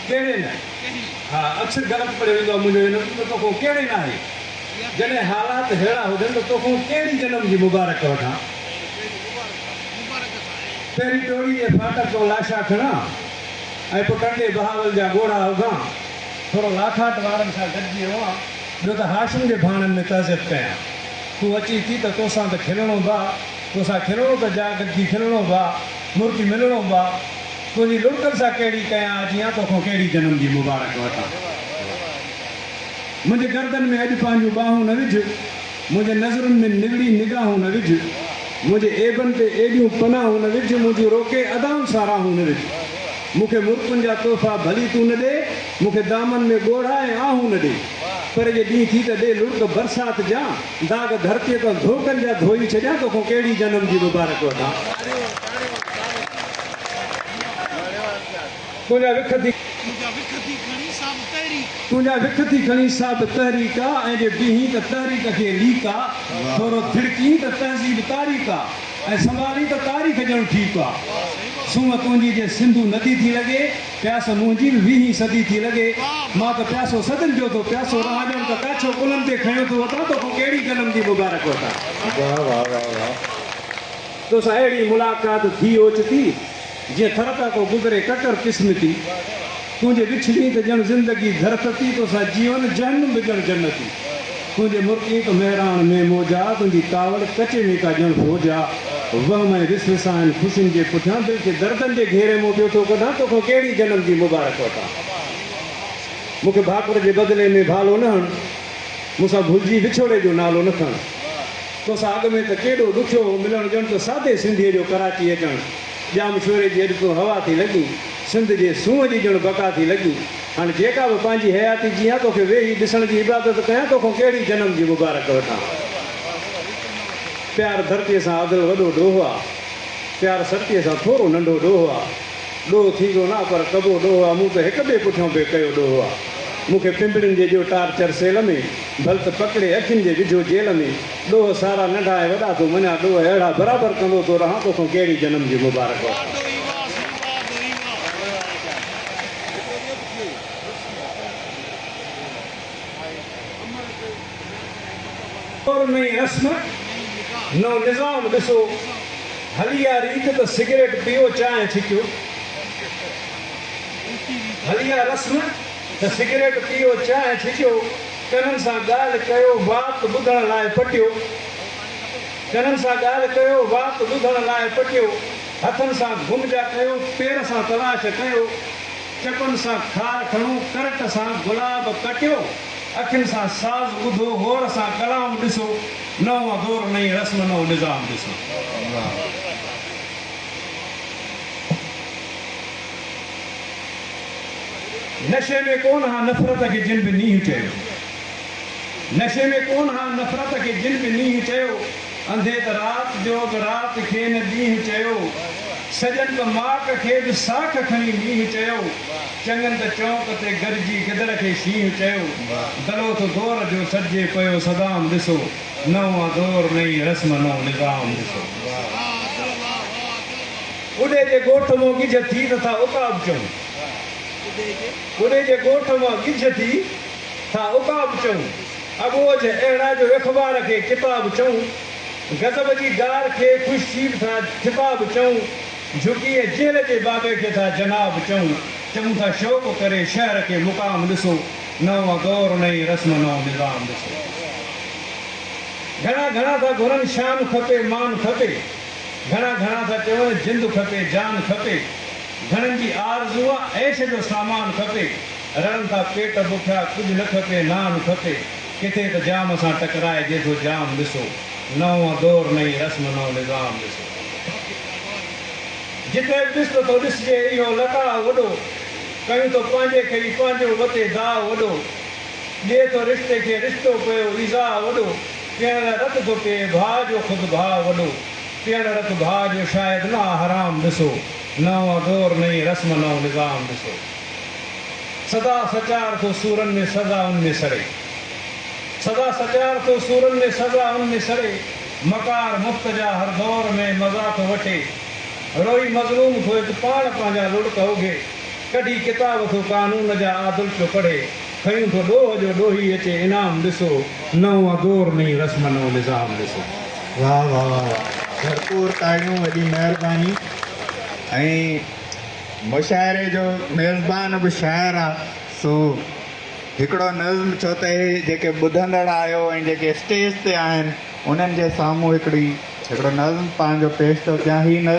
ڪهڙي نه؟ ها، اڪثر غلط پڙهيو ويندو آهي منهنجو علم ته توکون ڪهڙي نه آهي. جڏهن حالات ههڙا هجن ته توکون ڪهڙي جنم جي مبارڪ وٺان؟ پهرين ٽوڙي جي ڦاٽڪ تان لاشا کڻان ۽ پوء ڪنڊي بهاول جا ڳوڙها اگهان، ٿورو لاکاٽ وارن سان گڏجي روئان، ٻيو ته هاشم جي ڀاڻن ۾ تعزيت ڪيان. تون اچين ٿي ته توسان ته کلڻو به آ، توسان کلڻو ته جا گڏجي کلڻو به آ. مرڪي ملڻو با تنهنجي لڙڪن سان ڪهڙي ڪيان اجيان توکان ڪهڙي جنم جي مبارڪ وٺان منهنجي گردن ۾ اڄ پنهنجون ٻانهون نه وجهه منهنجي نظرن ۾ نگڙي نگاهون نه وجهه منهنجي عيبن تي ايڏيون پناهون نه وجهه منهنجون روڪي ادائون ساراهون نه وجهه مون کي مرڪن جا تحفا ڀلي تون نه ڏي مون کي دامن ۾ ڳوڙها ۽ آهون نه ڏي پر جي ڏينهن ٿي ته ڏي لڙڪ برسات جان داغ ڌرتيء تان ڌوڪن جا ڌوئي ڇڏيان توکان ڪهڙي جنم جي مبارڪ وٺان تنهنجا وک ٿي تنهنجا وک ٿي کڻي سا به تحريڪ آ ۽ جي بيهين ته تحريڪ کي ليڪ آ ٿورو ٿڙڪين ته تهذيب تاريڪ آ ۽ سنڀالين ته تاريخ ڄڻ ٺيڪ آ سونهن تنهنجي جي سنڌو ندي ٿي لڳي پياسو منهنجي به ويهين صدي ٿي لڳي، مان ته پياسو صدين جو ٿو، پياسو راه ڄڻ ته ڪاڇو ڪلهن تي کنيو ٿو وتان، توکان ڪهڙي جنم جي مبارڪ وٺان. توسان اهڙي ملاقات ٿي اوچتي، جيئن ٿر تان ڪو گذري ڪڪر قسمتي، تنهنجي وڇ ۾ ته ڄڻ زندگي ڌرتتي، توسان جيون جهنم به ڄڻ جنتي. تنهنجي مڪي تو مهراڻ مين موجا، تنهنجي ڪاوڙ ڪچي مين ڪا ڄڻ فوج آ. وهم ۽ رس وساهن خوشين جي پٺيان دل کي دردن جي گهيري مون ٻيو ٿو ڪڍان توکان ڪهڙي جنم جي مبارڪ وٺان. مون کي ڀاڪر جي بدلي ۾ ڀالو نه هڻ، مون سان ڀلجي وڇوڙي جو نالو نه کڻ. توسان اڳ ۾ ته ڪيڏو ڏکيو هو ملڻ ڄڻ ته سادي سنڌيء جو ڪراچي اچڻ. ڄام شوري جي اڏ تون هوا ٿي لڳين، سنڌ جي سونهن جي ڄڻ بقا ٿي لڳين. هاڻ جيڪا به پنهنجي حياتي جيان توکي ويهي ڏسڻ جي عبادت ڪيان توکان ڪهڙي جنم جي مبارڪ وٺان پيار ڌرتي سان عادل وڏو ڏوهه آ پيار سرتي سان ٿورو ننڍو ڏوهه آ ڏوهه ٿيندو نه پر ڪبو ڏوهه آ مون ته هڪ ٻئي پٺيان به ڪيو ڏوهه آ مون کي پنبڻين جي ڏيو ٽارچر سيل ۾ ڀلت پڪڙي اکين جي وجهو جيل ۾ ڏوهه سارا ننڍا ۽ وڏا ٿو مڃان ڏوهه اهڙا برابر ڪندو ٿو رهان توکان ڪهڙي جنم جي مبارڪ وٺان. دور نئين رسم، نئون نظام ڏسو هلي آ ريت ته سگريٽ پيئو چانهه ڇڪيو هلي آ رسم ته سگريٽ پيئو چانهه ڇڪيو ڪنن سان ڳالهه ڪيو وات ٻڌڻ لاء پٽيو ڪنن سان ڳالهه ڪيو وات ٻڌڻ لاء پٽيو. هٿن سان گم جا ڪيو، پير سان تلاش ڪيو، چپن سان خار کڻو، ڪرٽ سان گلاب ڪٽيو، اکين سان ساز ٻڌو، غور سان ڪلام ڏسو، نئون دور نئين رسم نئون نظام ڏسو. نشي ۾ ڪون ها نفرت کي جن به نينهن چيو، نشي ۾ ڪون ها نفرت کي جن به نينهن چيو، انڌي ته رات جو به رات کي نه ڏينهن چيو، سڄن ته ماڪ کي به ساک کڻي مينهن چيو، چڱن ته چونڪ تي گڏجي گدڙ کي شينهن چيو، دلوٿ دور جو سڏجي پيو صدام ڏسو، نئون آ دور نئين رسم نئون نظام ڏسو. ٻڍي جي ڳوٺ مان ڳجهه ٿي ته ٿا عقاب چئون، ٻڍي جي ڳوٺ مان ڳجهه ٿي ٿا عقاب چئون، اٻوجهه اهڙا جو اخبار کي ٽپا به چئون، غضب جي ڊار کي خوش ٿي به ٿا ٽپا به چئون، جهڪي ۽ جهل جي بابي کي ٿا جناب چئون، چئون ٿا شوق ڪري شهر کي مقام ڏسو، نئون دور نئين رسم نئون نظام ڏسو. گهڻا گهڻا ٿا گهرن شان کپي مان کپي، گهڻا گهڻا ٿا چون جند کپي جان کپي، گهڻن جي آرزو آ عيش جو سامان کپي، رڙن ٿا پيٽ بکيا، ڪجهه نه کپي، نان کپي، ڪٿي ته جام سان ٽڪرائجي ٿو جام ڏسو، نئون دور نئين رسم نئون نظام ڏسو. جتي به ڏس ته ٿو ڏسجي اهو لقاء وڏو، ڪيون ٿو پنهنجي کي ئي پنهنجو وتي داء وڏو، ڏئي ٿو رشتي کي رشتو پيو ايذاء وڏو، پيئڻ لاء رت ٿو پيئي ڀاء جو خود ڀاء وڏو، پيئڻ رت ڀاء جو شايد نه آ حرام ڏسو، نئون دور نئين رسم نئون نظام ڏسو. سدا سچار ٿو سورن ۾ سزا ان ۾ سڙي. سدا سچار ٿو سورن ۾ سزا ان ۾ سڙي. مڪار مفتجا هر دور ۾ مزا ٿو وٺي. روئي مظلوم ٿو هت پاڻ پنهنجا لڙڪ اوگهي. ڪڍي ڪتاب ٿو قانون جا عادل پيو پڙهي. کنيون ٿو ڏوهه جو ڏوهي اچي انعام ڏسو. نئون آ دور نئين رسم نئون نظام ڏسو. واھ واھ واھ واھ ڀرپور تاڙيون وڏي مهرباني ۽. مشاعري جو ميزبان به شاعر آ سو هڪڙو نظم ڇو ته هي جيڪي ٻڌندڙ آهيو ۽ جيڪي اسٽيج تي آهن انهن جي سامهون هڪڙي هڪڙو نظم پنهنجو پيش ٿو ڪيان هي نظم